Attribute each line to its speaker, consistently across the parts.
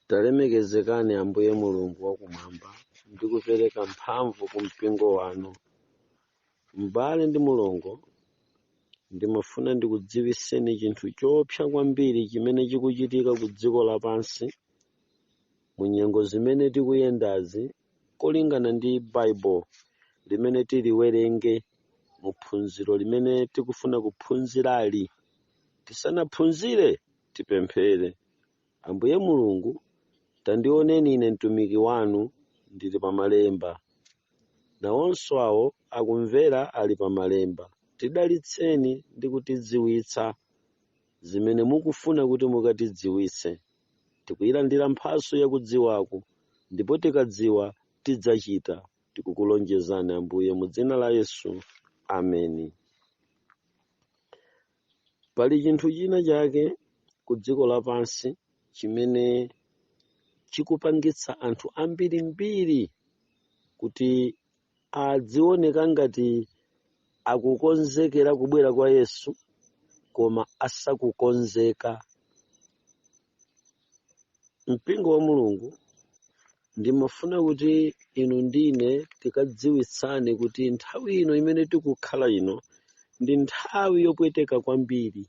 Speaker 1: Talemekezekani Ambuye Mulungu wakumwamba ndi kupereka mphamvu ku mpingo wanu. M'bale ndi mulongo, ndimafuna ndikudziwiseni chinthu choopsa kwambiri chimene chikuchitika ku dziko lapansi mu nyengo zimene tikuyendazi kolingana ndi Bible limene tiliwerenge mu phunziro limene tikufuna kuphunzirali. Tisanaphunzire, tipemphere. Ambuye Mulungu, tandioneni ine mtumiki wanu ndili pa malemba. Nawonso awo akumvera ali pa malemba. Tidalitseni ndi kutidziwitsa zimene mukufuna kuti mukatidziwitse. Tikuyilandira mphatso yakudziwako, ndipo tikadziwa, tidzachita. Tikukulonjezani, Ambuye, mu dzina la Yesu. Ameni. Pali chinthu china chake ku dziko lapansi chimene chikupangitsa anthu ambirimbiri kuti adzioneka ngati akukonzekera kubwera kwa Yesu koma asakukonzeka. Mpingo wa Mulungu ndimafuna kuti inu ndine tikadziwitsane kuti nthawi ino imene tikukhala ino ndi nthawi yopweteka kwambiri.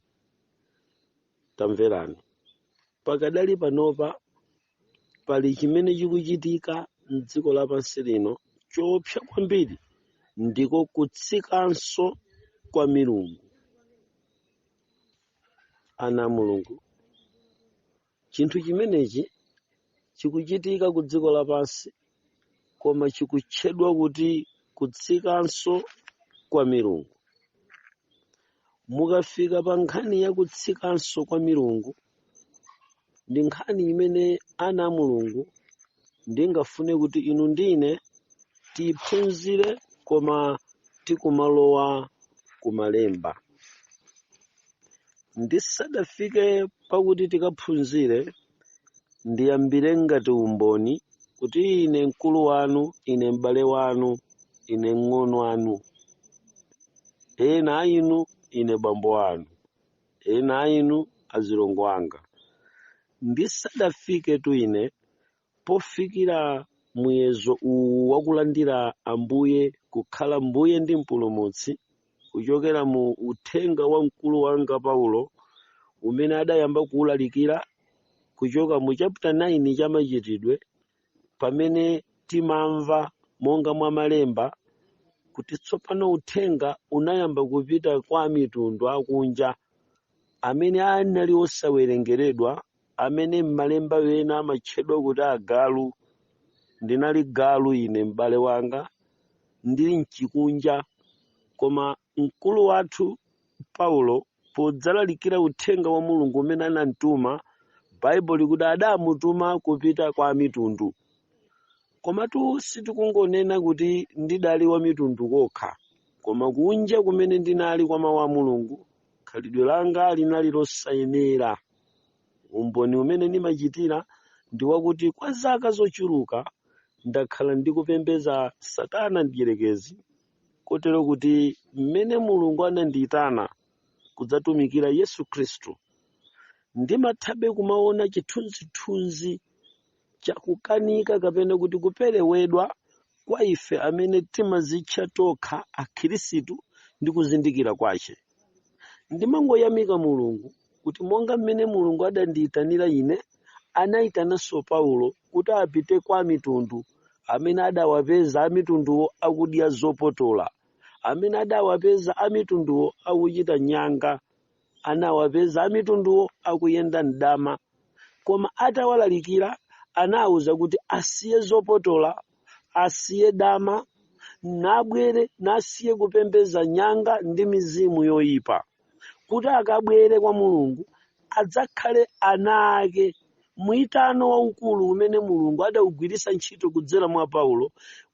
Speaker 1: Tamverani, pakadali panopa pali chimene chikuchitika m'dziko lapansi lino choopsa kwambiri ndiko kutsikanso kwa milungu ana a mulungu chinthu chimenechi chikuchitika ku dziko lapansi koma chikutchedwa kuti kutsikanso kwa milungu mukafika pa nkhani ya kutsikanso kwa milungu ndi nkhani imene ana a mulungu ndingafune kuti inu ndine tiyiphunzire koma tikumalowa kumalemba ndisadafike pakuti tikaphunzire ndiyambire ngati umboni kuti ine mkulu wanu ine m'bale wanu ine mng'ono wanu ena a inu ine bambo wanu ena a inu azilongo anga, ndisadafiketu ine pofikira muyezo uwu wakulandira Ambuye kukhala Mbuye ndi Mpulumutsi, kuchokera mu uthenga wa mkulu wanga Paulo, umene adayamba kuulalikira kuchoka mu chapter 9 cha Machitidwe pamene timamva monga mwa malemba kuti tsopano uthenga unayamba kupita kwa amitundu akunja amene anali osawerengeredwa amene m'malemba ena amatchedwa kuti agalu ndinali galu ine m'bale wanga ndili mchikunja koma mkulu wathu Paulo podzalalikira uthenga wa Mulungu umene anamtuma, Baibulo likuti adamutuma kupita kwa amitundu. Komatu sitikungonena kuti ndidali wamitundu kokha, koma kunja kumene ndinali kwa mawu a Mulungu, khalidwe langa linali losayenera. Umboni umene ndimachitira ndi wakuti kwa zaka zochuluka ndakhala ndikupembedza Satana Mdyerekezi Kotero kuti m'mene Mulungu anandiitana kudzatumikira Yesu Khristu, ndimathabe kumaona chithunzithunzi chakukanika kapena kuti kuperewedwa kwa ife amene timazitcha tokha akhirisitu ndi kuzindikira kwache. ndimangoyamika mulungu kuti monga mmene mulungu adandiyitanira ine anayitananso paulo kuti apite kwa amitundu amene adawapeza amitunduwo akudya zopotola amene adawapeza amitunduwo akuchita nyanga anawapeza amitunduwo akuyenda mdama Koma atawalalikira anawauza kuti asiye zopotola, asiye dama, nabwere nasiye kupembedza nyanga ndi mizimu yoipa, kuti akabwere kwa Mulungu, adzakhale ana ake. Muyitano waukulu umene Mulungu adaugwiritsa ntchito kudzera mwa Paulo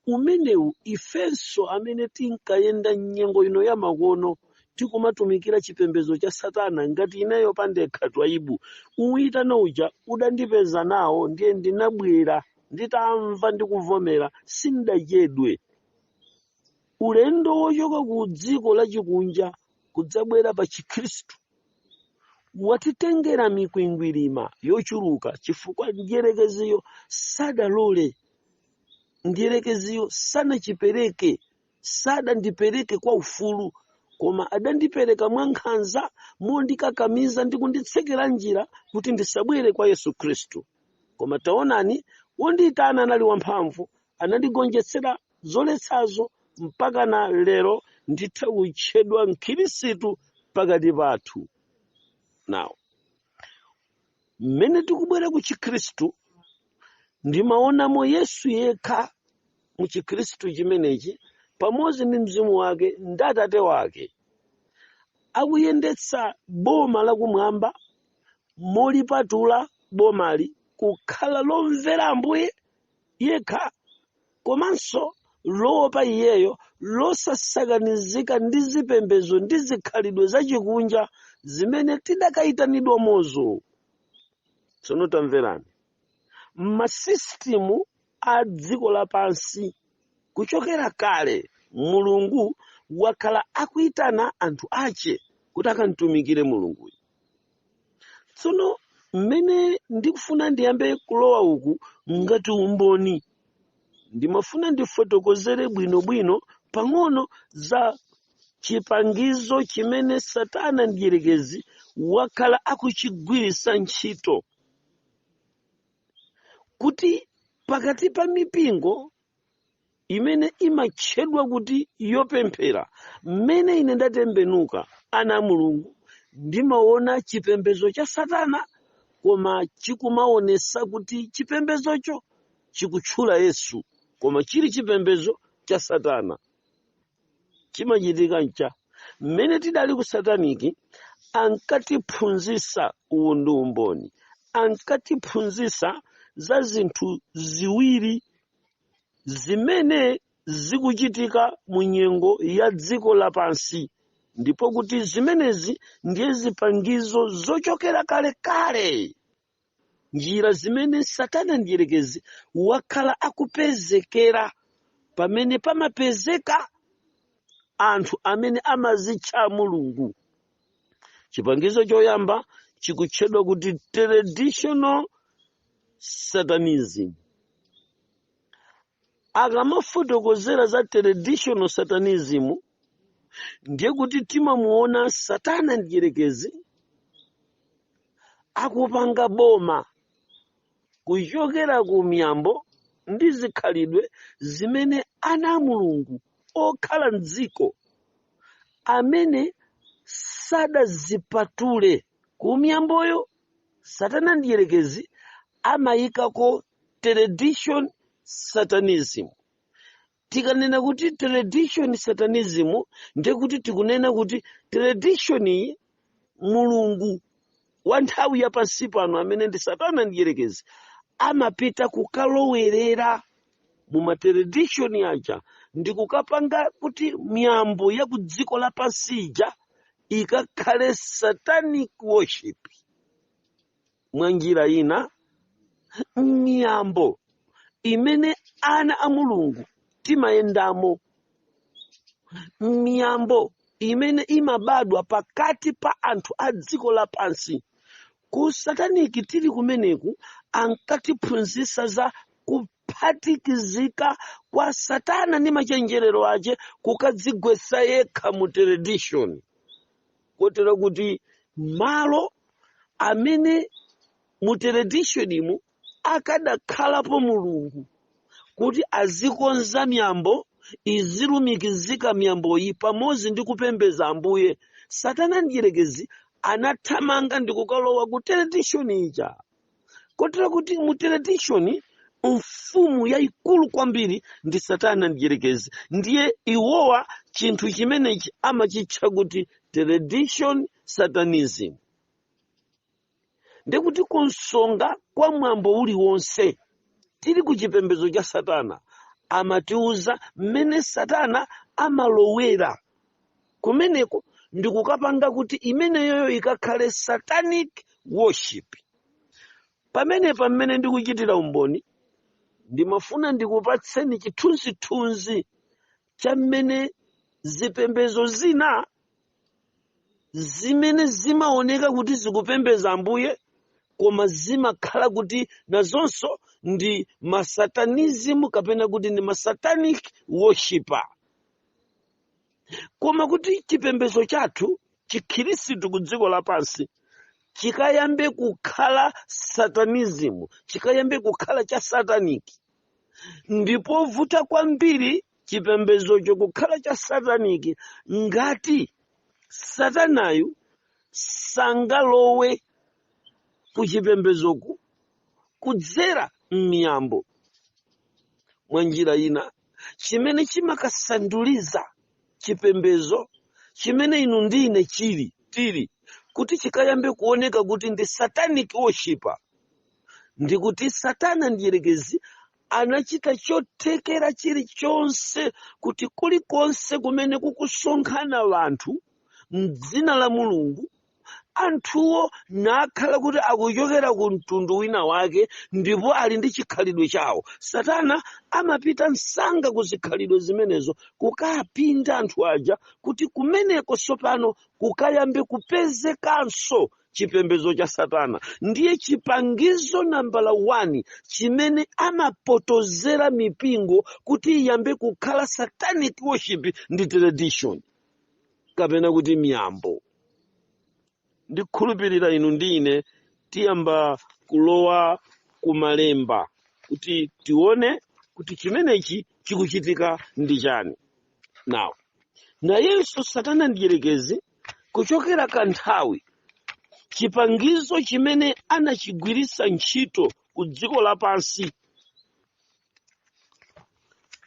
Speaker 1: umenewu ifenso amene tinkayenda m'nyengo ino yamakono tikumatumikira chipembedzo cha satana ngati ineyo pandekha twaibu muyitano uja udandipeza nawo ndiye ndinabwera nditamva ndikuvomera sindachedwe ulendo wochoka ku dziko lachikunja kudzabwera pa chikhristu watitengera mikwingwirima yochuluka chifukwa mdyerekeziyo sadalole mdyerekeziyo sanandipereke sadandipereke kwa ufulu koma adandipereka mwankhanza mondikakamiza ndi kunditsekera njira kuti ndisabwere kwa yesu khristu koma taonani wondiyitana anali wamphamvu anandigonjetsera zoletsazo mpaka na lero nditha kutchedwa mkhirisitu pakati pathu now mmene tikubwera ku chikhristu ndimaonamo yesu yekha mu chikhristu chimenechi pamodzi ndi mzimu wake ndi atate wake akuyendetsa boma lakumwamba molipatula bomali kukhala lomvera ambuye yekha komanso loopa iyeyo, losasakanizika ndi zipembedzo ndi zikhalidwe zachikunja zimene tidakaitanidwamo zo. Tsono tamverani, m'masisitimu a dziko lapansi kuchokera kale Mulungu wakhala akuitana anthu ache kuti akamtumikire Mulunguyo. tsono mmene ndikufuna ndiyambe kulowa uku ngati umboni ndimafuna ndifotokozere bwinobwino pang'ono za chipangizo chimene satana mdyerekezi wakhala akuchigwiritsa ntchito kuti pakati pa mipingo imene imatchedwa kuti yopemphera mmene ine ndatembenuka ana a mulungu ndimaona chipembedzo cha satana koma chikumaonesa kuti chipembedzocho chikutchula yesu koma chili chipembedzo cha satana chimachitika ncha mmene tidali ku sataniki ankatiphunzisa uwu ndi umboni ankatiphunzisa za zinthu ziwiri zimene zikuchitika mu nyengo ya dziko lapansi ndipo kuti zimenezi ndiye zipangizo zochokera kalekale Njira zimene Satana Mdyerekezi wakhala akupezekera pamene pamapezeka anthu amene amazitcha a Mulungu. Chipangizo choyamba chikutchedwa kuti Traditional Satanism. akamafotokozera za traditional satanism ndiye kuti timamuona satana mdyerekezi akupanga boma kuchokera ku miyambo ndi zikhalidwe zimene ana a mulungu okhala mdziko amene sadazipatule ku miyamboyo satana mdierekezi amayikako tradition satanism tikanena kuti tradition satanism ndiye kuti tikunena kuti tradition iyi mulungu wa nthawi ya pansi pano amene ndi satana mdierekezi amapita kukalowerera mu matradition aja ndikukapanga kuti miyambo ya ku dziko lapansi ija ikakhale satanic worship mwa njira ina miyambo imene ana a mulungu timayendamo miyambo imene imabadwa pakati pa anthu a dziko lapansi ku sataniki tili kumeneku ankatiphunzitsa za kuphatikizika kwa satana ndi machenjerero ache kukadzigwetsa yekha mu tradition kotero kuti malo amene mu traditionimu Akadakhalapo Mulungu kuti azikonza miyambo, izilumikizika miyamboyi pamodzi ndi kupembedza Ambuye, Satana Mdyerekezi anathamanga ndi kukalowa ku tradition ija. Kotero kuti mu tradition mfumu yayikulu kwambiri ndi Satana Mdyerekezi. Ndiye iwowa chinthu chimenechi amachitcha kuti tradition satanism. ndiye kuti kunsonga kwa mwambo uliwonse tili ku chipembedzo cha satana amatiuza mmene satana amalowera kumeneko ndi kukapanga kuti imeneyoyo ikakhale satanic worship pamenepa mmene ndikuchitira umboni ndimafuna ndikupatseni chithunzithunzi cha mmene zipembedzo zina zimene zimaoneka kuti zikupembeza ambuye koma zimakhala kuti nazonso ndi masatanism kapena kuti ndi masatanic worshiper koma kuti chipembezo chathu chikhirisitu ku dziko lapansi chikayambe kukhala satanism chikayambe kukhala cha sataniki ndi povuta kwambiri chipembedzocho kukhala cha sataniki ngati satanayu sangalowe ku chipembedzoku kudzera m'miyambo mwa njira ina chimene chimakasanduliza chipembedzo chimene inu ndi ine chili tili kuti chikayambe kuoneka kuti ndi satanic worshiper ndikuti satana mdyerekezi anachita chothekera chilichonse kuti kulikonse kumene kukusonkhana anthu m'dzina la mulungu anthuwo nakhala kuti akuchokera ku mtundu wina wake ndipo ali ndi chikhalidwe chawo satana amapita msanga ku zikhalidwe zimenezo kukapinda anthu aja kuti kumeneko tsopano kukayambe kupezekanso chipembedzo cha satana ndiye chipangizo nambala 1 chimene amapotozera mipingo kuti iyambe kukhala satanic worship ndi tradition kapena kuti miyambo ndikhulupirira inu ndi ine tiyamba kulowa kumalemba kuti tione kuti chimenechi chikuchitika ndi chani now nayenso satana mdyerekezi kuchokera kanthawi chipangizo chimene anachigwiritsa ntchito ku dziko lapansi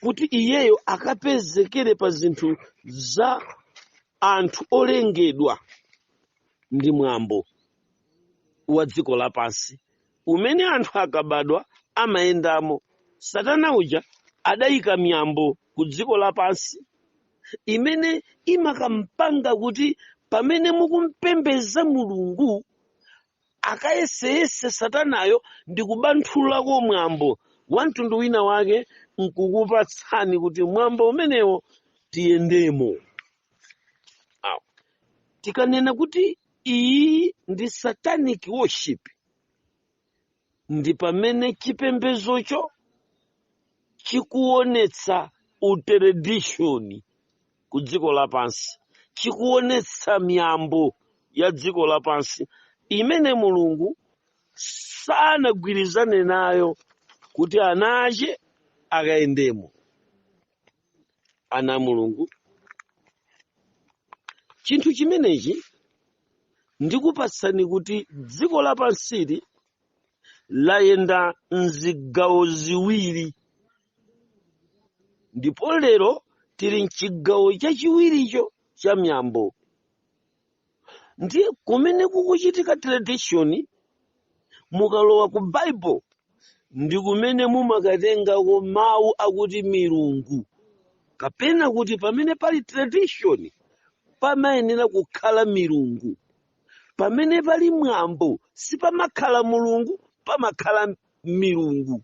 Speaker 1: kuti iyeyo akapezekere pa zinthu za anthu olengedwa ndi mwambo wa dziko lapansi umene anthu akabadwa amayendamo. Satana uja adaika miyambo ku dziko lapansi imene imakampanga kuti pamene mukumpembeza Mulungu akayeseyese satanayo ndi kubanthulako mwambo wa mtundu wina wake nkukupatsani kuti mwambo umenewo tiyendemo. Tikanena kuti iyi ndi satanic worship ndi pamene chipembedzocho chikuonetsa utradition ku dziko lapansi chikuonetsa miyambo ya dziko lapansi imene mulungu sanagwirizane nayo kuti ana ache akayendemo ana a mulungu chinthu chimenechi ndikupatsani kuti dziko lapansili layenda mzigawo ziwiri ndipo lero tili mchigawo chachiwiricho cha miyambo ndiye kumene kukuchitika tradition mukalowa ku bible ndi kumene mumakatengako mawu akuti milungu kapena kuti pamene pali tradition pamayenera kukhala milungu pamene pali mwambo sipamakhala mulungu pamakhala milungu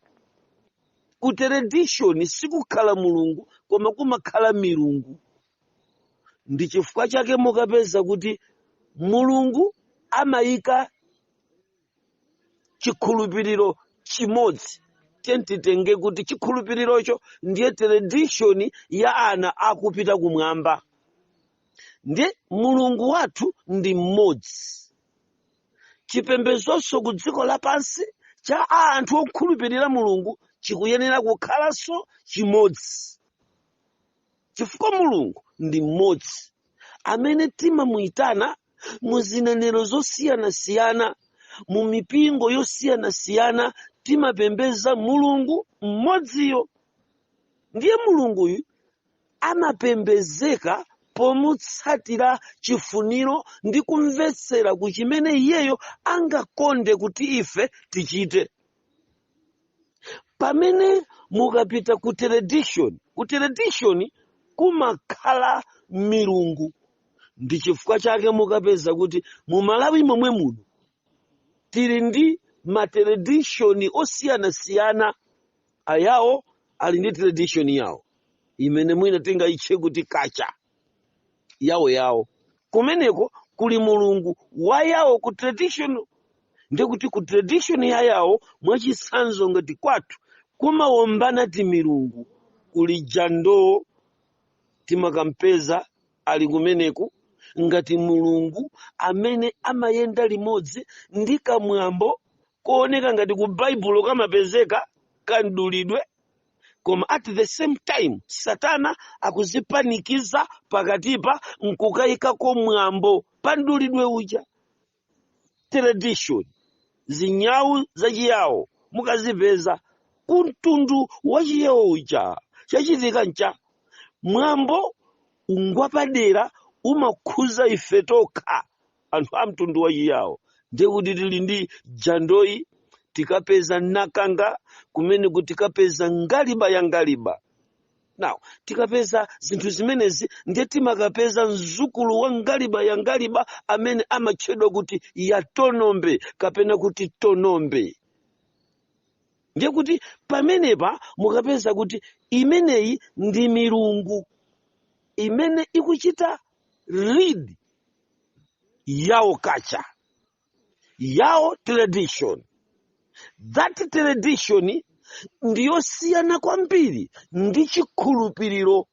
Speaker 1: ku tradition sikukhala mulungu koma kumakhala milungu ndi chifukwa chake mukapeza kuti mulungu amayika chikhulupiriro chimodzi tiyeni titenge kuti chikhulupirirocho ndiye tradition ya ana akupita kumwamba ndiye mulungu wathu ndi mmodzi chipembedzonso ku dziko lapansi cha anthu okhulupirira mulungu chikuyenera kukhalanso chimodzi chifukwa mulungu ndi mmodzi amene timamuyitana mu zinenero zosiyanasiyana mu mipingo yosiyanasiyana timapembeza mulungu mmodziyo ndiye mulunguyu amapembezeka pomutsatira chifuniro ndi kumvetsera ku chimene iyeyo angakonde kuti ife tichite pamene mukapita ku teledishoni ku teledishoni kumakhala milungu ndi chifukwa chake mukapeza kuti mu malawi momwe muno tili ndi mateledishoni osiyanasiyana ayawo ali ndi teledishoni yawo imene mwina tingayitche kuti kacha Yao Yao kumeneko kuli mulungu wa Ayawo ku tradition ndiye kuti ku tradition ya Ayawo mwachitsanzo ngati kwathu kumaombanatu milungu kuli jando timakampeza ali kumeneko ngati mulungu amene amayenda limodzi ndi kamwambo kooneka ngati ku baibulo kamapezeka kamdulidwe koma at the same time satana akudzipanikiza pakatipa nkukayikako mwambo pa mdulidwe uja tradition zinyawu zachiyawo mukazipeza kumtundu wachiyawo uja chachitika ncha mwambo uwu ngwapadera umakhuza ife tokha anthu a mtundu wa chiyawo ndiye kuti tili ndi jandoyi tikapeza nakanga kumeneku tikapeza ngaliba ya ngaliba now tikapeza zinthu zimenezi ndiye timakapeza mzukulu wa ngaliba ya ngaliba amene amatchedwa kuti yatonombe kapena kuti tonombe ndiye kuti pamenepa mukapeza kuti imeneyi ndi milungu imene ikuchita lead Yao culture Yao tradition that tradition ndiyosiyana kwambiri ndi chikhulupiriro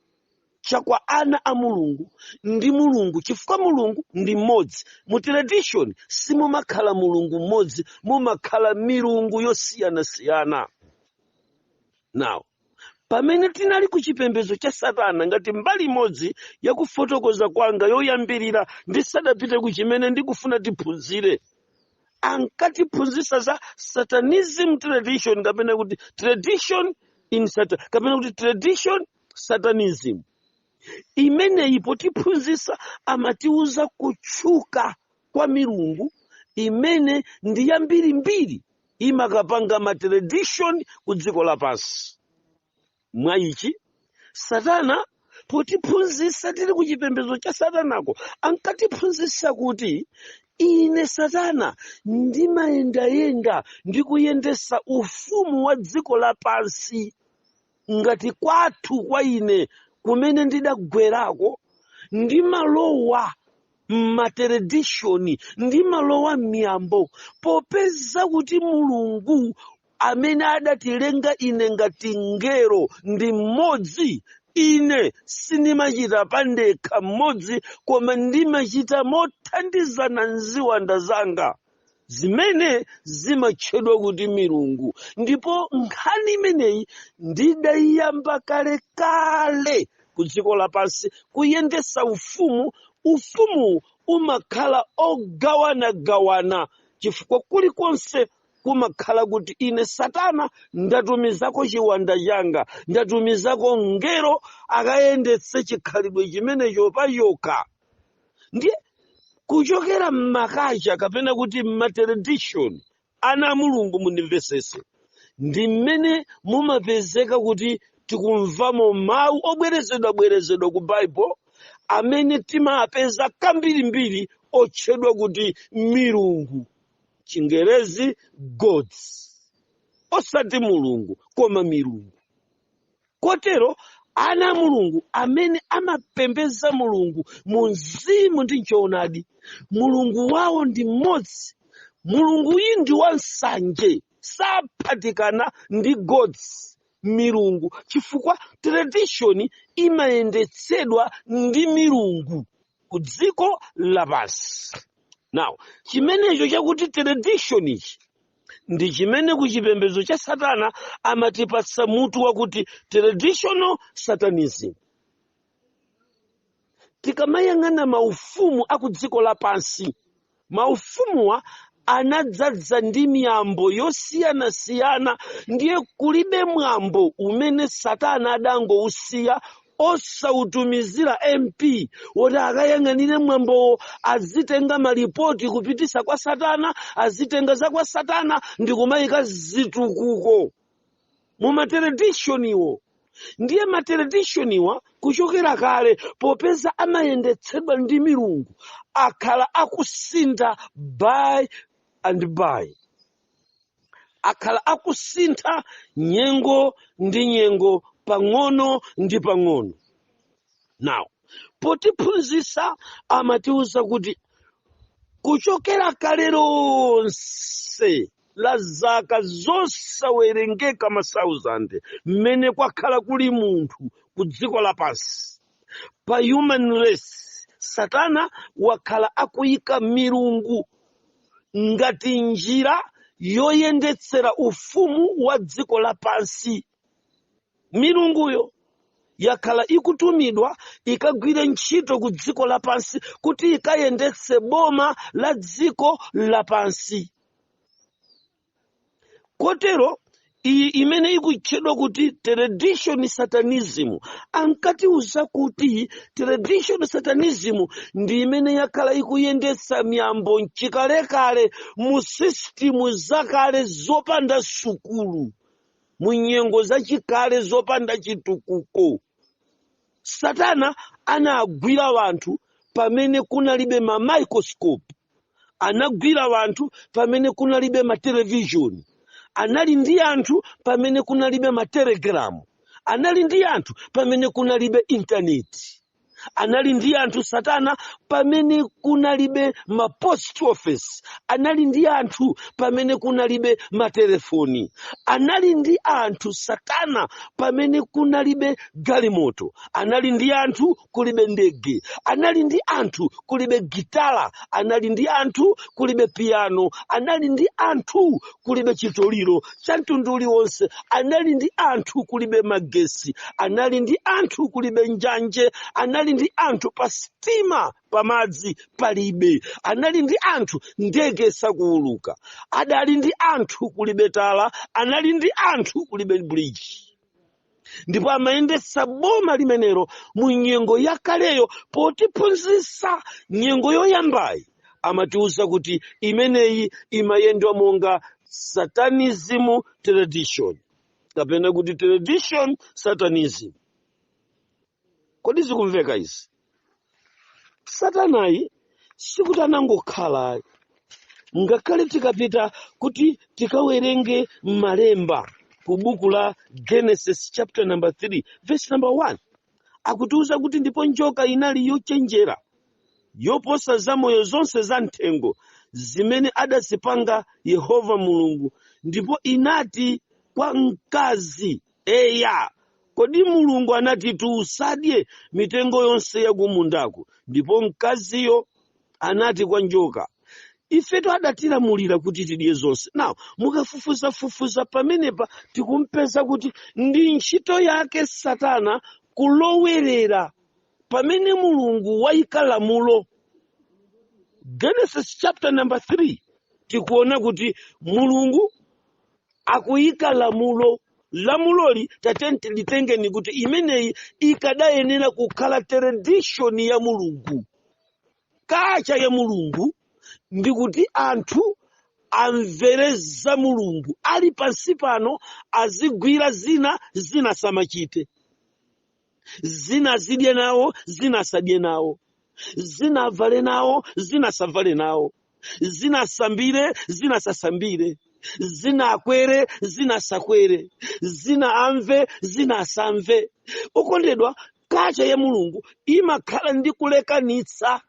Speaker 1: cha kwa ana a mulungu ndi mulungu chifukwa mulungu ndi mmodzi mu tradition simumakhala mulungu mmodzi mumakhala milungu yosiyanasiyana now Pamene tinali ku chipembedzo cha Satana ngati mbali imodzi ya kufotokoza kwanga yoyambirira ndisadapite ku chimene ndikufuna tiphunzire, ankatiphunzitsa za Satanism tradition kapena kuti tradition in Satan kapena kuti tradition Satanism. Imeneyi potiphunzitsa amatiuza kutchuka kwa milungu imene ndi yambirimbiri imakapanga ma tradition ku dziko lapansi mwa ichi satana potiphunzitsa tili ku chipembedzo cha satanako ankatiphunzitsa kuti ine satana ndimayendayenda ndikuyendesa ufumu wa dziko lapansi ngati kwathu kwa ine kumene ndidagwerako ndimalowa m'materedishoni ndimalowa m'miyambo popeza kuti mulungu amene adatilenga ine ngati ngero ndi mmodzi ine sindimachita pandekha mmodzi koma ndimachita mothandizana ndi ziwanda zanga zimene zimatchedwa kuti milungu ndipo nkhani imeneyi ndidayiyamba kale kale ku dziko lapansi kuyendesa ufumu ufumu umakhala ogawanagawana chifukwa kulikonse kumakhala kuti ine satana ndatumizako chiwanda changa ndatumizako ngero akayendetse chikhalidwe chimenecho pachokha ndiye kuchokera m'makacha kapena kuti m'materedishoni ana a mulungu mundimvesese ndi mmene mumapezeka kuti tikumvamo mawu obwerezedwabwerezedwa ku baibulo amene timapeza kambirimbiri otchedwa kuti milungu chingerezi gods osati mulungu koma milungu kotero ana a mulungu amene amapembeza mulungu mu mzimu ndi mchoonadi mulungu wawo ndi mmodzi mulunguyi ndi wansanje saphatikana ndi gods milungu chifukwa tradition imayendetsedwa ndi milungu ku dziko lapansi now chimenecho chakuti tradition ichi ndi chimene ku chipembedzo cha satana amatipatsa mutu wakuti traditional satanism tikamayang'ana maufumu a ku dziko lapansi maufumuwa anadzadza ndi miyambo yosiyanasiyana ndiye kulibe mwambo umene satana adangousiya osautumizira mp woti akayang'anire mwambowo azitenga malipoti kupititsa kwa satana azitenga za kwa satana ndi kumayika zitukuko mu materedishoniwo ndiye materedishoniwa kuchokera kale popeza amayendetsedwa ndi milungu akhala akusintha by and by akhala akusintha nyengo ndi nyengo pang'ono ndi pang'ono now potiphunzitsa amatiwuza kuti kuchokera kale lonse la zaka zosawerengeka masauzande mmene kwakhala kuli munthu ku dziko lapansi pa human race satana wakhala akuyika milungu ngati njira yoyendetsera ufumu wa dziko lapansi milunguyo yakhala ikutumidwa ikagwire ntchito ku dziko lapansi kuti ikayendetse boma la dziko lapansi kotero iyi imene ikutchedwa kuti tradition satanism ankatiuza kuti tradition satanism ndi imene yakhala ikuyendetsa miyambo mchikalekale mu sistimu zakale zopanda sukulu mu nyengo zachikale zopanda chitukuko satana anagwira wanthu pamene kunalibe ma microscope anagwira wanthu pamene kunalibe matelevishoni anali ndi anthu pamene kunalibe matelegalamu anali ndi anthu pamene kunalibe intaneti anali ndi anthu satana pamene kunalibe ma post office anali ndi anthu pamene kunalibe matelefoni anali ndi anthu satana pamene kunalibe galimoto anali ndi anthu kulibe ndege anali ndi anthu kulibe gitala anali ndi anthu kulibe piano anali ndi anthu kulibe chitoliro cha mtundu uliwonse anali ndi anthu kulibe magesi anali ndi anthu kulibe njanje anali ndi anthu pa sitima pamadzi palibe anali ndi anthu ndege sizikuuluka adali ndi anthu kulibe tala anali ndi anthu kulibe bridge ndipo amayendetsa boma limenelo mu nyengo yakaleyo potiphunzitsa nyengo yoyambayi amatiwuza kuti imeneyi imayendwa monga satanism tradition kapena kuti tradition satanism kodi zikumveka izi satanayi sikuti anangokhala ayi ngakhale tikapita kuti tikawerenge malemba ku buku la genesis chapter number 3 verse number 1 akutiuza kuti ndipo njoka inali yochenjera yoposa zamoyo zonse za mthengo zimene adazipanga yehova mulungu ndipo inati kwa mkazi Eya, kodi Mulungu anatitu usadye mitengo yonse yakumundaku? Ndipo mkaziyo anati kwa njoka, Ifetu adatilamulira kuti tidye zonse. Now, mukafufuzafufuza pamenepa tikupeza kuti ndi ntchito yake Satana kulowerera pamene Mulungu waika lamulo. Genesis chapter number 3 tikuona kuti Mulungu akuyika lamulo lamuloli tatenti litengeni kuti imeneyi ikadayenera kukhala tradition ya mulungu culture ya mulungu ndi kuti anthu amvere za mulungu ali pansi pano azigwira zina zina asamachite zina azidye nawo zina asadye nawo zina avale nawo zina asavale nawo zina asambire zina asasambire zina akwere zina asakwere zina amve zina asamve okondedwa culture ya mulungu imakhala ndi kulekanitsa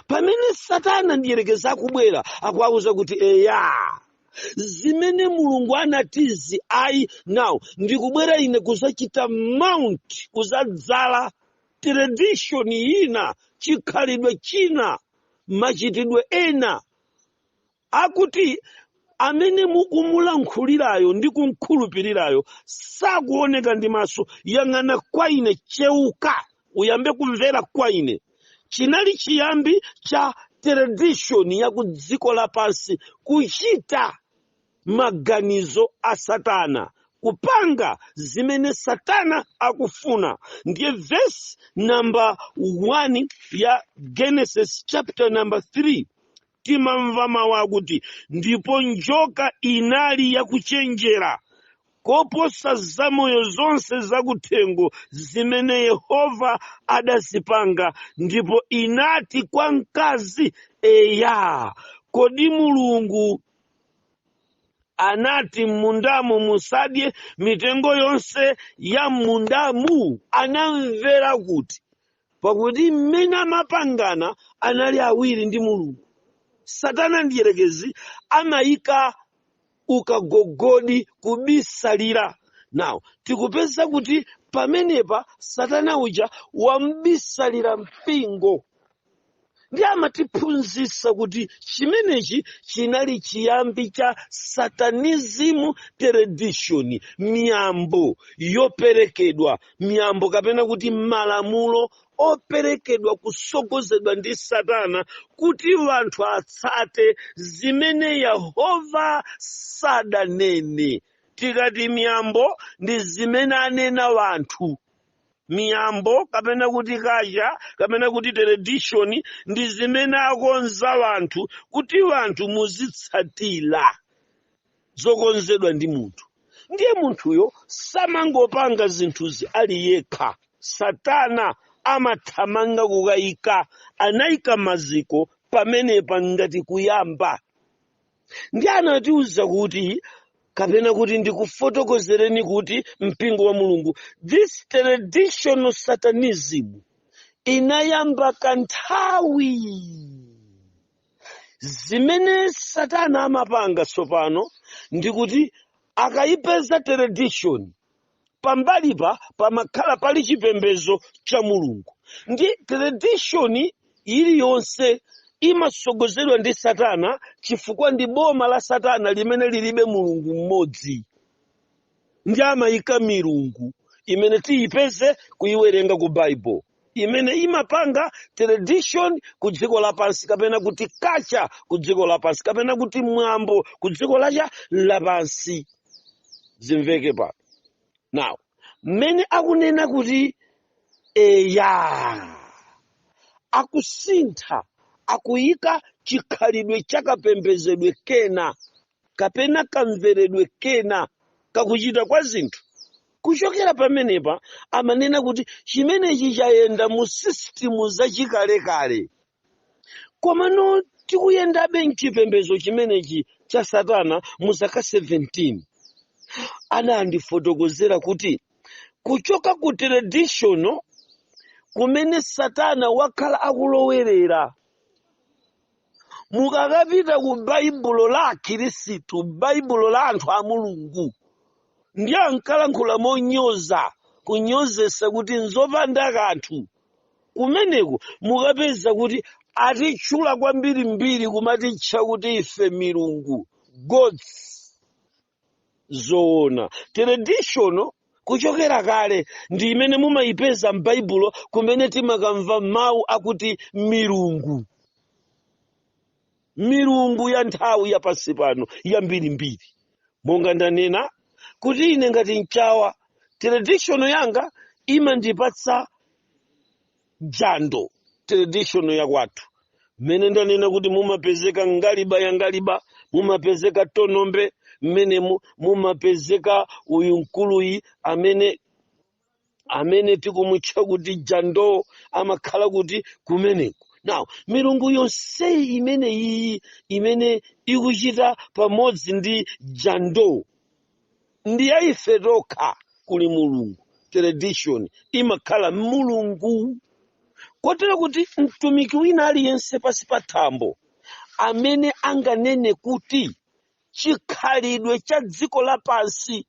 Speaker 1: pamene satana mdierekezi akubwera akuwauza kuti eya zimene mulungu anatizi ayi now ndikubwera ine kudzachita mount kudzadzala tradition ina chikhalidwe china machitidwe ena akuti amene mukumulankhulirayo ndi kumkhulupirirayo sakuoneka ndi maso yang'ana kwa ine cheuka uyambe kumvera kwa ine chinali chiyambi cha tradition ya ku dziko lapansi kuchita maganizo a satana kupanga zimene satana akufuna ndiye verse number 1 ya genesis chapter number 3 timamva mawu akuti ndipo njoka inali yakuchenjera koposa zamoyo zonse zakuthengo zimene yehova adazipanga ndipo inati kwa mkazi eya kodi mulungu anati m'mundamu musadye mitengo yonse ya m'mundamu anamvera kuti pakuti mmene amapangana anali awiri ndi mulungu satana mdierekezi amayika ukagogodi kubisalira now tikupeza kuti pamenepa satana uja wamubisalira mpingo ndiye amatiphunzitsa kuti chimenechi chinali chiyambi cha satanism tradition miyambo yoperekedwa miyambo kapena kuti malamulo operekedwa kusogozedwa ndi satana kuti wanthu atsate zimene yehova sadanene tikati miyambo ndi zimene anena wanthu miyambo kapena kuti kacha kapena kuti tradition ndi zimene akonza wanthu kuti wanthu muzitsatira zokonzedwa ndi munthu ndiye munthuyo samangopanga zinthuzi ali yekha satana amathamanga kukayika anayika maziko pamenepa ngati kuyamba ndiye anatiuza kuti kapena kuti ndikufotokozereni kuti mpingo wa mulungu this traditional satanism inayamba kanthawi zimene satana amapanga tsopano ndikuti akayipeza tradition pambali pa pamakhala pali chipembedzo cha mulungu ndi tradition iliyonse imasogozedwa ndi satana chifukwa ndi boma la satana limene lilibe mulungu mmodzi ndi amayika milungu imene tiyipeze kuyiwerenga ku bible imene imapanga tradition ku dziko lapansi kapena kuti kacha ku dziko lapansi kapena kuti mwambo ku dziko lacha lapansi zimveke pa now mmene akunena kuti eya akusintha akuyika chikhalidwe chakapembezedwe kena kapena kamveredwe kena kakuchita kwa zinthu kuchokera pamenepa amanena kuti chimenechi chayenda mu system zachikalekale komano tikuyendabe mchipembedzo chimenechi cha satana mu zaka 17 anandifotokozera kuti kuchoka ku traditional kumene satana wakhala akulowerera mukakapita ku baibulo la akhirisitu baibulo la anthu a mulungu ndiye ankalankhula monyoza kunyozesa kuti nzopanda kanthu kumeneko mukapeza kuti atitchula kwambirimbiri kumatitcha kuti ife milungu gods zoona traditional kuchokera kale ndi imene mumayipeza m'baibulo kumene timakamva mawu akuti milungu milungu ya nthawi ya pansi pano yambirimbiri monga ndanena kuti ine ngati mchawa traditional yanga imandipatsa jando traditional ya kwathu mmene ndanena kuti mumapezeka ngaliba ya ngaliba mumapezeka tonombe mmene mu- mumapezeka uyu mkuluyi amene amene tikumutcha kuti jando amakhala kuti kumeneko now milungu yonseyi imene iyi imene ikuchita pamodzi ndi jando ndi ya ife tokha kuli mulungu tradition imakhala mulungu kotero kuti mtumiki wina aliyense pansi pa thambo amene anganene kuti chikhalidwe cha dziko lapansi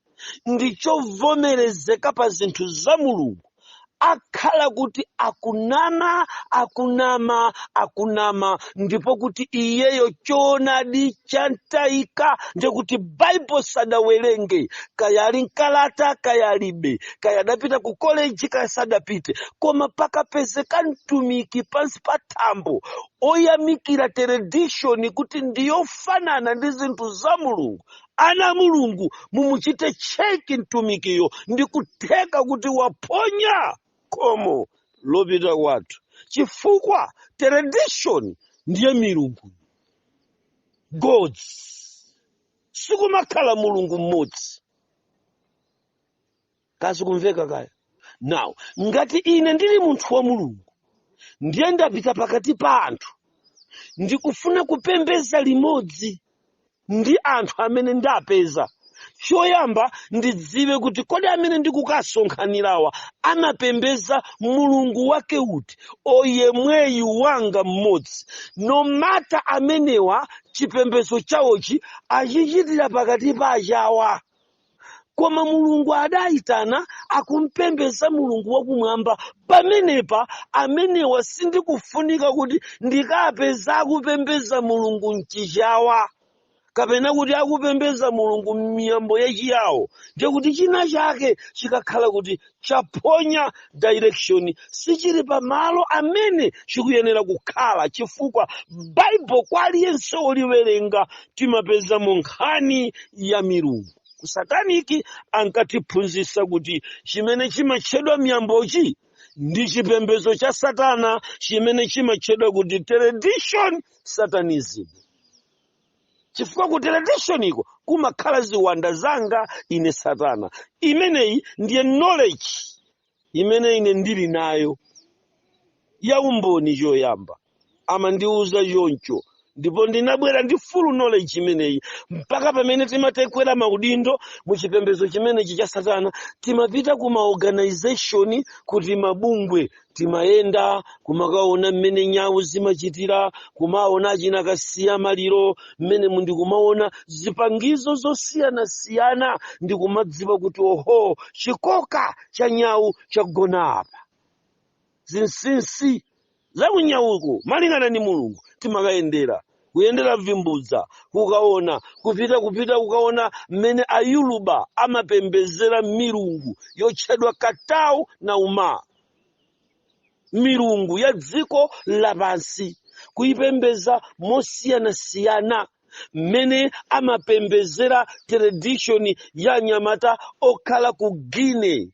Speaker 1: ndi chovomerezeka pa zinthu za mulungu akhala kuti akunama akunama akunama ndipo kuti iyeyo choonadi chantayika ndi kuti baibo sadawerenge kaya ali mkalata kaya alibe kaya adapita ku koleji kaya sadapite koma pakapezeka mtumiki pansi pa thambo oyamikira teredishoni kuti ndiyofanana ndi zinthu za mulungu ana mulungu mumuchite cheki mtumikiyo ndi kutheka kuti waphonya khomo lopita kwathu chifukwa tradition ndiye milungu gods sikumakhala mulungu mmodzi kasi kumveka kaya now ngati ine ndili munthu wa mulungu ndiye ndapita pakati pa anthu ndikufuna kupembeza limodzi ndi anthu amene ndapeza choyamba ndidziwe kuti kodi amene ndikukasonkhanirawa amapembeza mulungu wake uti oyemweyu wanga mmodzi no matter amenewa chipembezo chawochi achichitira pakati pa achawa koma mulungu adayitana akumpembeza mulungu wakumwamba pamenepa amenewa sindikufunika kuti ndikapeza akupembeza mulungu mchichawa kapena kuti akupembeza mulungu m'miyambo yachiyawo ndiye kuti china chake chikakhala kuti chaphonya direction sichili pa malo amene chikuyenera kukhala chifukwa bible kwa aliyense oliwerenga timapezamo nkhani ya milungu kusataniki ankatiphunzitsa kuti chimene chimatchedwa miyambochi ndi chipembezo cha satana chimene chimatchedwa kuti tradition satanism chifukwa ku teredishoniko kumakhala ziwanda zanga ine satana imeneyi ndiye knowledge imene ine ndili nayo ya umboni choyamba amandiwuza choncho ndipo ndinabwera ndi full knowledge imeneyi mpaka pamene timatekwera maudindo mu chipembezo chimenechi cha satana timapita ku maorganization kuti mabungwe timayenda kumakaona mmene nyawu zimachitira kumaona achina kasiya maliro mmene mu ndikumaona zipangizo zosiyanasiyana ndikumadziwa kuti oho chikoka cha nyawu chagona apa zinsinsi zakunyawuko malingana ni mulungu timakayendera kuyendera vimbudza kukaona kupita kupita kukaona mmene ayoruba amapembezera milungu yotchedwa katau na uma milungu ya dziko lapansi kuipembeza mosiyanasiyana mmene amapembezera tradition ya anyamata okhala ku guinea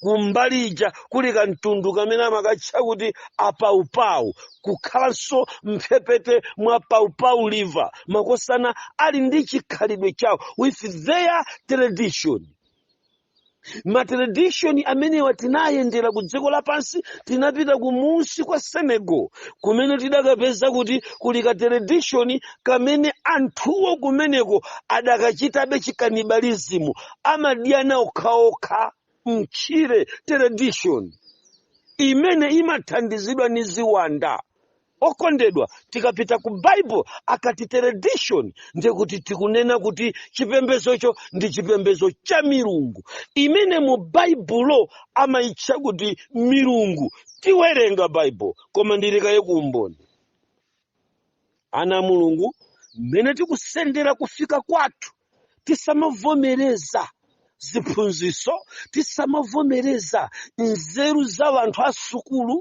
Speaker 1: kumbali ija kuli kamtundu kamene amakatcha kuti apaupau kukhalanso mphepete mwa paupau river makosana ali ndi chikhalidwe chawo with their tradition matradishoni amenewa tinayendera ku dziko lapansi tinapita kumunsi kwa senegal kumene tidakapeza kuti kuli katradishoni kamene anthuwo kumeneko akadachitabe chikanibalizimu amadyana okhaokha mtchire tradition imene imathandizidwa ni ziwanda okondedwa tikapita ku bible akati tradition ndiye kuti tikunena kuti chipembezocho ndi chipembezo cha milungu imene mu baibulo amayitcha kuti milungu tiwerenga bible koma ndiikaye umboni ana a mulungu mmene tikusendera kufika kwathu tisamavomereza ziphunziso tisamavomereza nzeru za wanthu a sukulu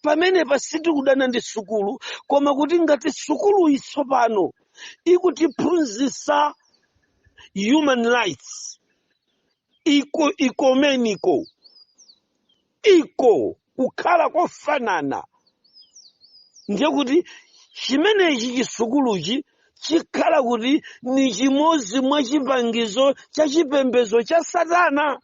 Speaker 1: pamenepa sitikudana ndi sukulu koma kuti ngati sukuluyi tsopano ikutiphunzisa human rights ecumenical iko kukhala kofanana ndiye kuti chimenechi chisukuluchi chikhala kuti ni chimodzi mwa chipangizo cha chipembezo cha satana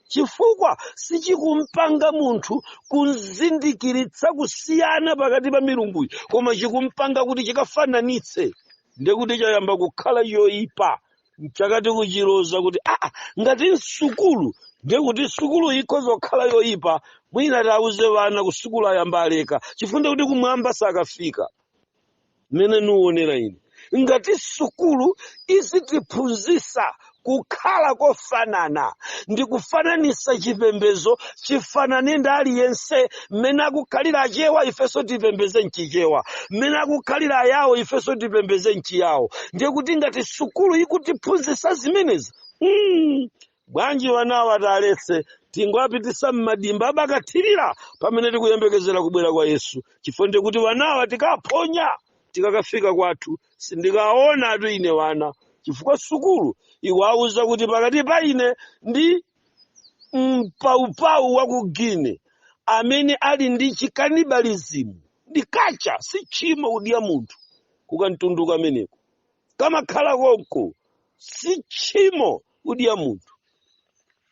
Speaker 1: chifukwa sichikumpanga munthu kumzindikiritsa kusiyana pakati pa milunguyi koma chikumpanga kuti chikafananitse ndiye kuti chayamba kukhala yoyipa mchake tikuchiloza kuti aa ngati nsukulu ndiye kuti sukulu ikhoza kukhala yoyipa mwina tiwauze wana ku sukulu ayambe aleka chifukwa nde kuti kumwamba sakafika mmene niwonera ine ngati sukulu izitiphunzisa kukhala kofanana ndi kufananisa chipembezo chifanane ndi aliyense mmene akukhalira achewa ifenso tipembeze mchichewa mmene akukhalira ayawo ifenso tipembeze mchiyawo ndiye kuti ngati sukulu ikutiphunzitsa zimenezi mm, bwanji wanawa taletse tingowapitisa mmadimba abakathirira pamene tikuyembekezera kubwera kwa yesu chifukwa ndiye kuti wanawa tikaphonya tikakafika kwathu sindikaona atu ine wana chifukwa sukulu ikuwauza kuti pakati pa ine ndi mpaupau wa ku Guinea amene ali ndi chikanibalizimu ndi kacha si tchimo kudya munthu kukamtundu kameneko kamakhala konko si tchimo kudya munthu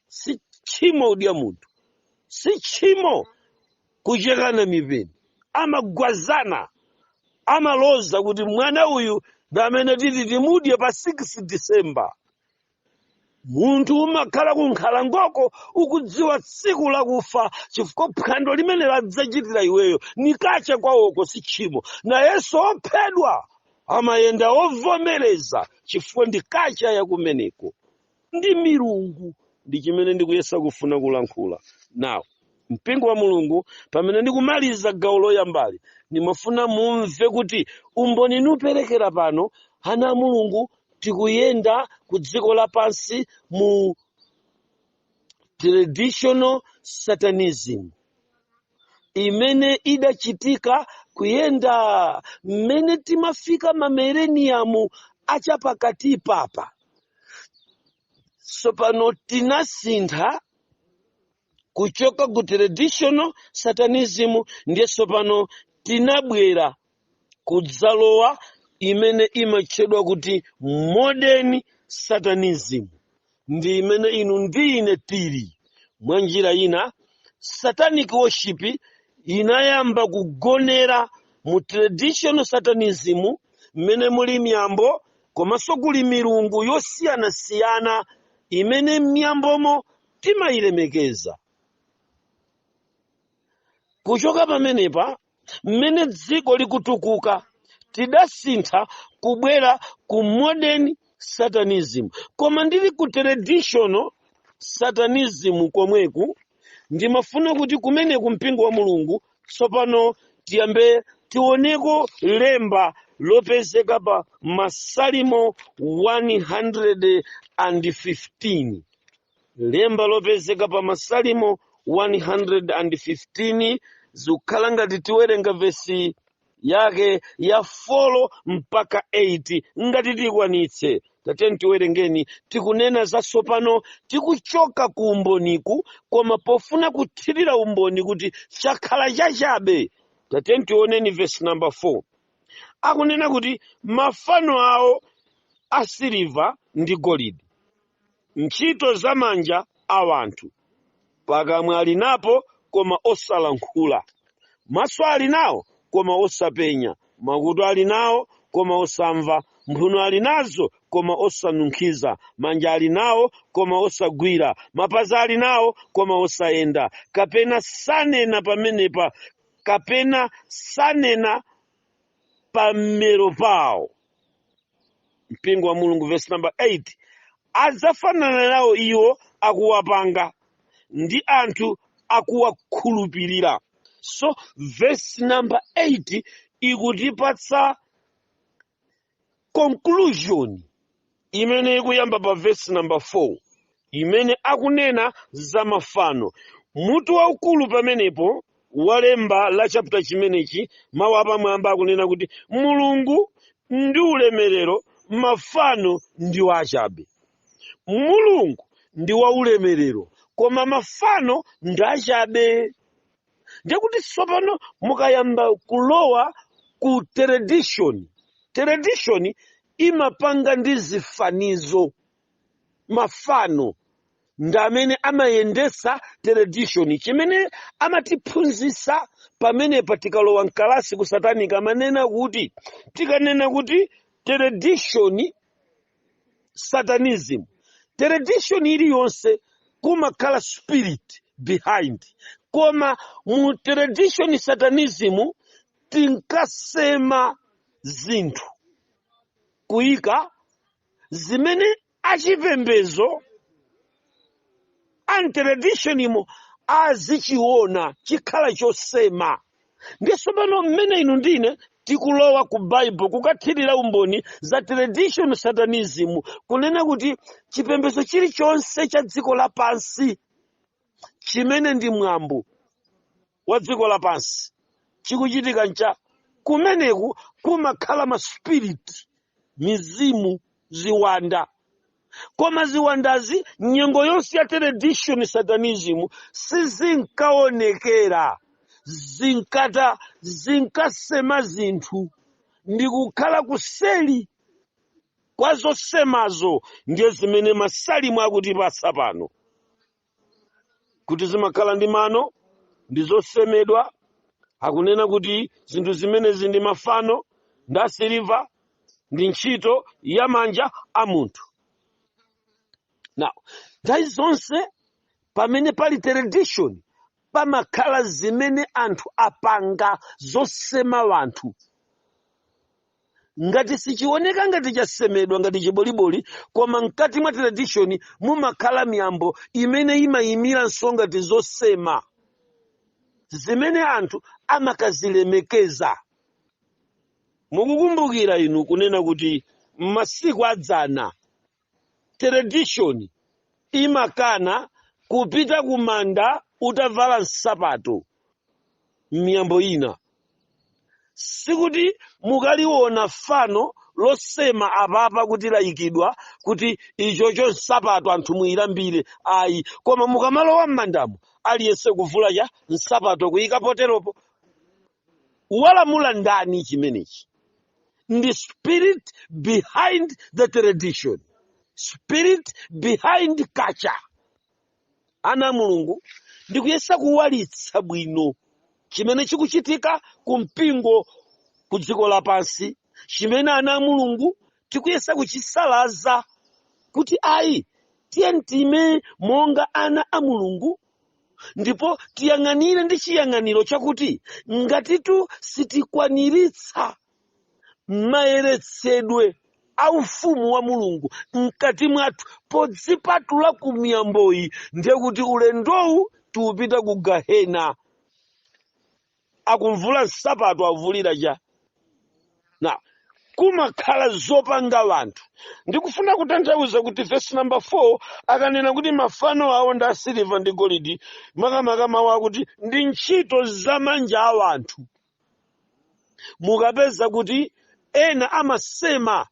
Speaker 1: si tchimo kudya munthu si tchimo kuchekana mipeni amagwazana amaloza kuti mwana uyu ndi amene titi timudye pa 6 December munthu umakhala ku nkhalangoko ukudziwa tsiku lakufa chifukwa phwando limene ladzachitira iweyo ndi kacha kwawoko si tchimo nayenso ophedwa amayenda ovomereza chifukwa ndi kacha yakumeneko ndi milungu ndi chimene ndikuyesa kufuna kulankhula now mpingo wa mulungu pamene ndikumaliza gawo loyambali ndimafuna mumve kuti umboni nikuperekera pano ana a mulungu tikuyenda ku dziko lapansi mu traditional satanism imene idachitika kuyenda mmene timafika mamereniyamu achapakatipapa so pano tinasintha kuchoka ku traditional satanism ndiye tsopano tinabwera kudzalowa imene imatchedwa kuti modern satanism ndi imene inu ndi ine tili mwa njira ina satanic worship inayamba kugonera mu traditional satanism mmene muli miyambo komanso kuli milungu yosiyanasiyana imene m'miyambomo timayilemekeza kuchoka pamenepa mmene dziko likutukuka tidasintha kubwera ku modern satanism koma ndili ku traditional satanism komweku ndimafuna kuti kumeneku mpingo wa mulungu Tsopano tiyambe tioneko lemba lopezeka pa Masalimo 115. Lemba lopezeka pa Masalimo 115 zikukhala ngati tiwerenga vesi yake ya 4 mpaka 8 ngati tikwanitse tateni tiwerengeni tikunena za tsopano tikuchoka ku umboniku koma pofuna kuthirira umboni kuti chakhala chachabe tateni tioneni vesi namba 4 akunena kuti mafano awo asiliva ndi golidi ntchito za manja a wanthu. Pakamwa ali napo, koma osalankhula, maso ali nawo, koma osapenya, makutu ali nawo, koma osamva, mphuno ali nazo, koma osanunkhiza, manja ali nawo, koma osagwira, mapazi ali nawo, koma osayenda, kapena sanena pamenepa, kapena sanena pa mmero pawo mpingo wa mulungu verse number 8 adzafanana nawo iwo akuwapanga ndi anthu akuwakhulupirira so verse number 8 ikutipatsa conclusion imene ikuyamba pa vesi namba 4 imene akunena za mafano mutu waukulu pamenepo walemba la chapter chimenechi mawu apamwamba akunena kuti mulungu ndi ulemerero mafano ndi wachabe mulungu ndi waulemerero koma mafano ndi achabe ndiye kuti sopano mukayamba kulowa ku tradition tradition imapanga ndi zifanizo mafano ndi amene amayendesa tradition chimene amatiphunzitsa pamenepa tikalowa mkalasi ku satanic amanena kuti tikanena kuti tradition satanism tradition iliyonse kumakhala spirit behind koma mu tradition satanism tinkasema zinthu kuyika zimene achipembezo a tradition imo azichiona chikhala chosema ndi sopano mmene inu ndine tikulowa ku bible kukathirira umboni za tradition satanism kunena kuti chipembezo chilichonse cha dziko lapansi chimene ndi mwambo wa dziko lapansi chikuchitika ncha kumeneku kumakhala maspiriti mizimu ziwanda koma ziwandazi nyengo yonse ya tradition satanism sizinkaonekera zinkata zinkasema zinthu ndi kukhala kuseli kwa zosemazo ndiye zimene masalimo akutipatsa pano kuti zimakhala ndi mano ndi zosemedwa akunena kuti zinthu zimenezi ndi mafano ndi asiliva ndi ntchito ya manja a munthu now nthawi zonse pamene pali tradition pamakhala zimene anthu apanga zosema wanthu ngati sichioneka ngati chasemedwa ngati chiboliboli koma mkati mwa tradition mumakhala miyambo imene imayimiranso ngati zosema zimene anthu amakazilemekeza mukukumbukira inu kunena kuti m'masiku adzana Tradition imakana kupita ku manda utavala nsapato. M'miyambo ina, sikuti mukaliona fano losema apapa kuti laikidwa kuti ichocho nsapato anthu muilambire ayi, koma mukamalowa m'mandamo aliyense kuvula cha nsapato kuika poteropo. walamula ndani chimenechi ndi spirit behind the tradition spirit behind culture ana a mulungu ndikuyesa kuwalitsa bwino chimene chikuchitika ku mpingo ku dziko lapansi chimene ana a mulungu tikuyesa kuchisalaza kuti ayi tiye tiime monga ana a mulungu ndipo tiyang'anire ndi chiyang'aniro chakuti ngatitu sitikwaniritsa mayeretsedwe a ufumu wa mulungu mkati mwathu podzipatula ku miyamboyi ndiye kuti ulendowu tiupita ku gahena akuvula nsapato avulira cha now kumakhala zopanga wanthu ndikufuna kutanthauza kuti vesi namba 4 akanena kuti mafano awo ndi asiliva ndi golidi makamaka mawu akuti ndi ntchito za manja a wanthu mukapeza kuti ena amasema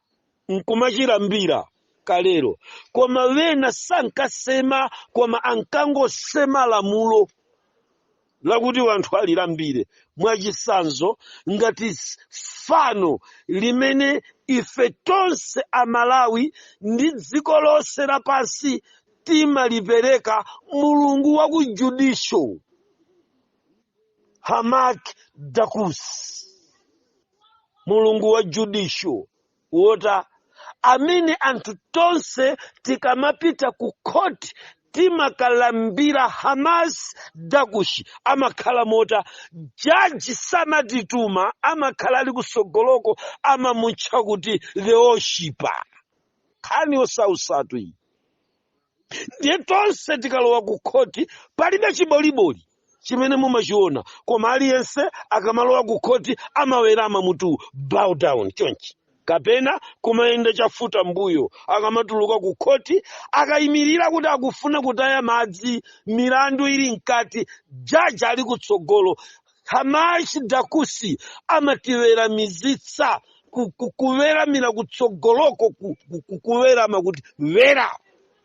Speaker 1: nkumachilambira kalero koma wena sankasema koma ankangosema lamulo lakuti wanthu alilambire mwachisanzo ngati s- fano limene ife tonse amalawi ndi dziko lonse lapansi timalipereka mulungu wa ku judicial hamak dakus mulungu wa judicial wota amene anthu tonse tikamapita ku khoti timakalambira hamas dakushi amakhala mota jaji samatituma amakhala ali kusogoloko amamutcha kuti the worshipper nkhani yosausatu iyi ndiye tonse tikalowa ku khoti palibe chiboliboli chimene mumachiona koma aliyense akamalowa ku khoti amawerama mutu bow down chonchi kapena kumayenda chafuta mbuyo akamatuluka ku khoti akayimirira kuti akufuna kutaya madzi milandu ili mkati jaji ali kutsogolo Hamash Dakusi amatiweramizitsa kuweramira kutsogoloko kuwerama kuti wera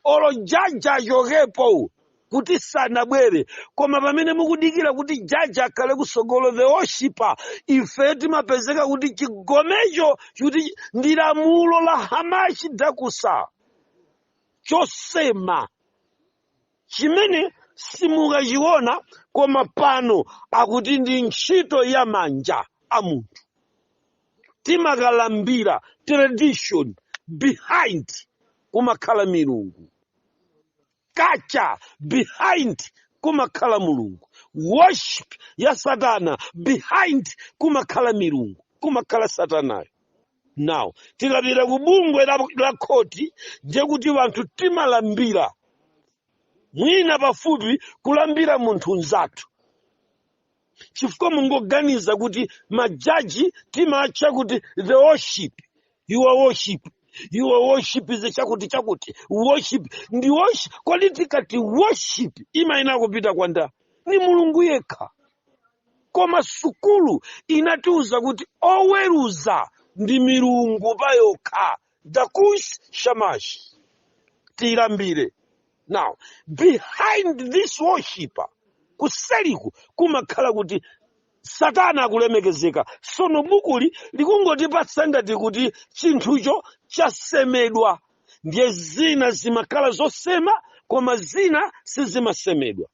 Speaker 1: olo jaji achokepo kuti sanabwere koma pamene mukudikira kuti jaji akhale kusogolo the worshiper ife timapezeka kuti chigomecho kuti ndi lamulo la hamashi dakusa chosema chimene simukachiona koma pano akuti ndi ntchito ya manja a munthu timakalambira tradition behind kumakhala milungu culture behind kumakhala mulungu worship ya satana behind kumakhala milungu kumakhala satanayo now tikapita ku bungwe la khoti ndiye kuti wanthu timalambira mwina pafupi kulambira munthu mnzathu chifukwa mungoganiza kuti majaji timatcha kuti the worship your worship your worship is chakuti chakuti worship ndi worship kodi tikati worship imayenera kupita kwa ndani ndi mulungu yekha koma sukulu inatiuza kuti oweruza ndi milungu payokha dakush shamash tiyilambire now behind this worshiper kuseliku kumakhala kuti satana akulemekezeka sono bukuli likungotipatsa ngati kuti chinthucho chasemedwa ndiye zina zimakhala zosema koma zina sizimasemedwa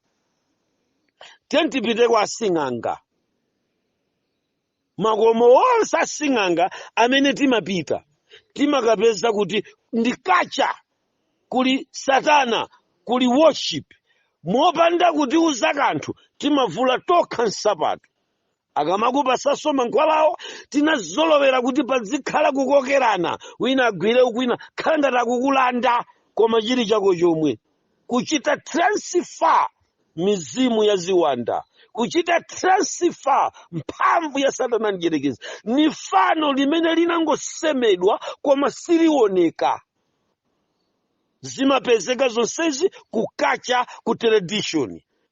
Speaker 1: tiyeni tipite kwa asing'anga makomo onse asing'anga amene timapita timakapeza kuti ndi culture kuli satana kuli worship mopanda kutiuza kanthu timavula tokha nsapato akamakupasanso mankhwalawo tinazolowera kuti pazikhala kukokerana wina agwire uku wina kukhala ngati akukulanda koma chili chako chomwe kuchita transfer mizimu ya ziwanda kuchita transfer mphamvu ya satana mdyerekezi ni fano limene linangosemedwa koma silioneka zimapezeka zonsezi ku culture ku tradition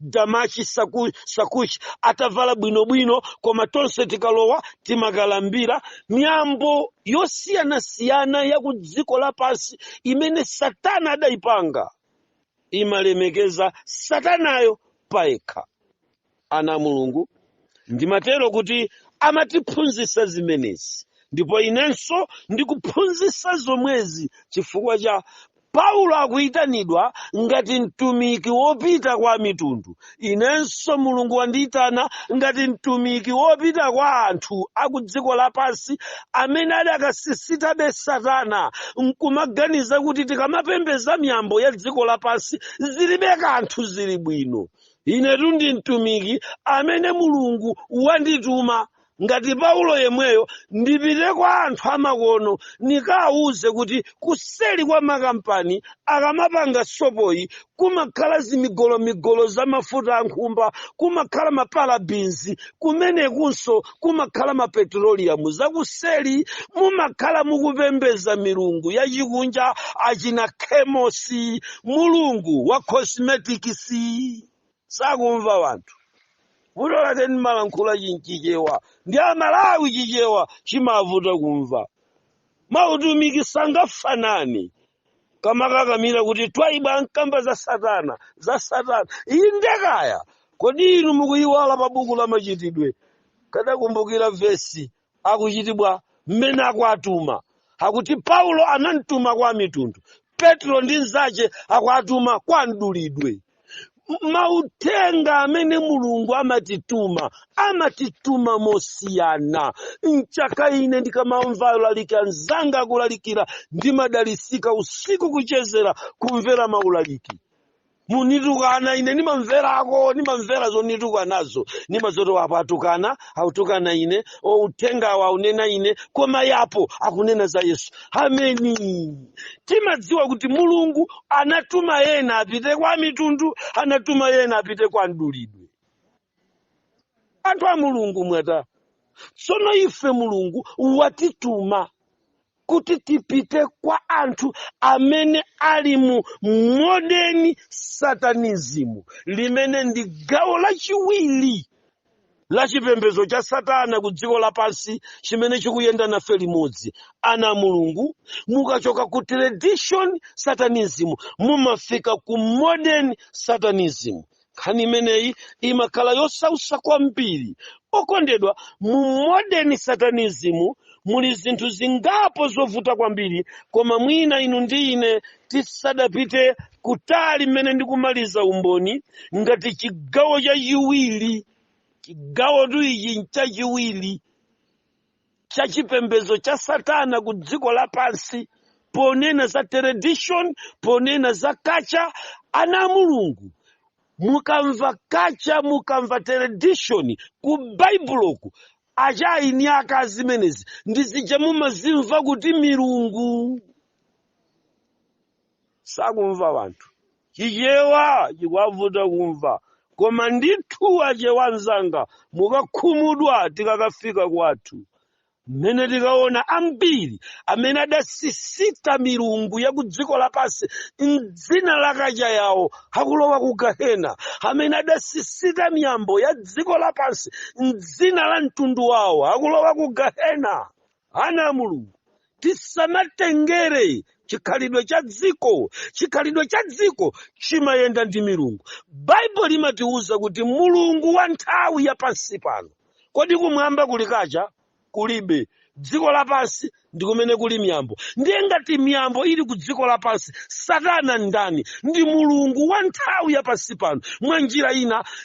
Speaker 1: dama, chisakuchi atavala bwinobwino koma tonse tikalowa timakalambira miyambo yosiyanasiyana ya ku dziko lapansi imene satana adayipanga imalemekeza satanayo payekha ana a mulungu ndimatero kuti amatiphunzitsa zimenezi ndipo inenso ndikuphunzitsa zomwezi chifukwa cha Paulo akuyitanidwa ngati mtumiki wopita kwa amitundu. Inenso Mulungu wandiyitana ngati mtumiki wopita kwa anthu a ku dziko lapansi amene adakasisitabe Satana n'kumaganiza kuti tikamapembedza miyambo ya dziko lapansi zilibe kanthu zili bwino. Inetu ndi mtumiki amene Mulungu wandituma ngati paulo yemweyo ndipite kwa anthu amakono nikawuze kuti kuseli kwa makampani akamapanga sopoyi kumakhala zimigolomigolo za mafuta ankhumba kumakhala maparabinzi kumenekunso kumakhala mapetroliyamu zakuseli mumakhala mukupembeza milungu yachikunja achina kemosi mulungu wa cosmeticsi sakumva wanthu vuto lake ndimalankhula Chimchichewa ndi amalawi chichewa chimavuta kumva mautumiki sangafanani kamakakamira kuti Twaibu amakamba za satana za satana iyi ndekaya kodi inu mukuyiwala pa buku la machitidwe kadakumbukira vesi akuchitibwa mmene akuwatuma akuti paulo anamtuma kwa amitundu Petulo ndi mnzake akuwatuma kwa mdulidwe mauthenga amene mulungu amatituma amatituma mosiyana nchaka ine ndikamamva olalika anzanga akulalikira ndimadalisika usiku kuchezera kumvera maulaliki munitukana ine nimamverako nimamvera zonitukanazo nimangoti apo atukana akutukana ine o uthengawo akunena ine koma apo akunena za yesu ameni timadziwa kuti mulungu anatuma ena apite kwa mitundu anatuma ena apite kwa mdulidwe anthu a mulungu mwatani tsono ife mulungu watituma kuti tipite kwa anthu amene ali mu modern satanism limene ndi gawo lachiwiri la chipembedzo cha satana ku dziko lapansi chimene chikuyenda nafe limodzi ana a mulungu mukachoka ku tradition satanism mumafika ku modern satanism nkhani imeneyi imakhala yosausa kwambiri okondedwa mu modern satanism muli zinthu zingapo zovuta kwambiri koma mwina inu ndi ine tisadapite kutali mmene ndikumaliza umboni ngati chigawo chachiwiri chigawotu ichi nchachiwiri cha chipembedzo cha satana ku dziko lapansi ponena za tradition ponena za culture ana a mulungu mukamva culture mukamva tradition ku baibuloku a China aka zimenezi ndi zija mumazimva kuti milungu sakumva anthu chichewa chikuwavuta kumva koma ndithu Achewa anzanga mukakhumudwa tikakafika kwathu mmene tikaona ambiri amene adasisita milungu ya ku dziko lapansi mdzina la culture yawo akulowa ku gahena amene adasisita miyambo ya dziko lapansi mdzina la mtundu wawo akulowa ku gahena Ana a Mulungu, tisamatengere chikhalidwe cha dziko. Chikhalidwe cha dziko chimayenda ndi milungu. Baibulo limatiwuza kuti mulungu wa nthawi ya pansi pano. Kodi kumwamba kuli culture? Kulibe. Dziko lapansi ndi kumene kuli miyambo. Ndiye ngati miyambo ili ku dziko lapansi, Satana ndani? Ndi mulungu wa nthawi ya pansi pano. Mwa njira ina,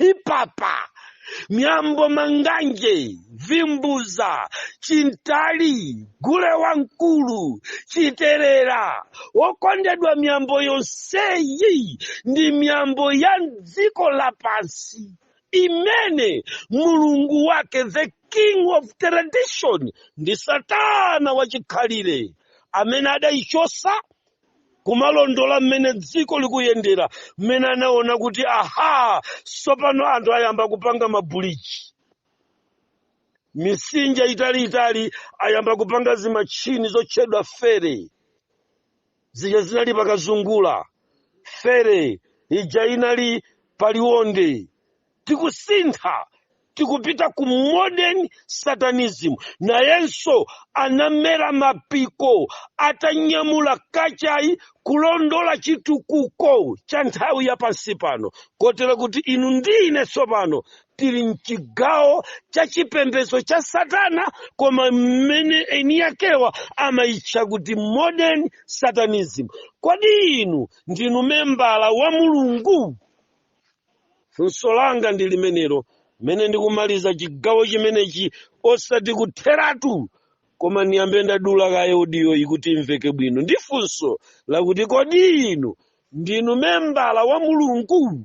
Speaker 1: ili papa miyambo manganje vimbuza chimtali gule wamkulu chiterera okondedwa miyambo yonseyi ndi miyambo ya dziko lapansi imene mulungu wake the king of tradition ndi satana wachikhalire amene adayichotsa kumalondola mmene dziko likuyendera mmene anaona kuti aha tsopano anthu ayamba kupanga mabuliji nsanja zitalizitali ayamba kupanga zimachini zotchedwa ferry zija zinali pa Kazungula ferry ija inali pa Liwonde tikusintha tikupita ku modern satanism nayenso anamera mapiko atanyamula culture-yi kulondola chitukuko cha nthawi ya pansi pano kotero kuti inu ndi ine tsopano tili mchigawo cha chipembedzo cha satana koma mmene eni yakewa amayitcha kuti modern satanism kodi inu ndinu membala wa mulungu funso langa ndi limenelo mmene ndikumaliza chigawo chimenechi osati kutheratu koma ndiyambe ndadula kaye audio-yi kuti imveke bwino ndi funso lakuti kodi inu ndinu membala wa mulungu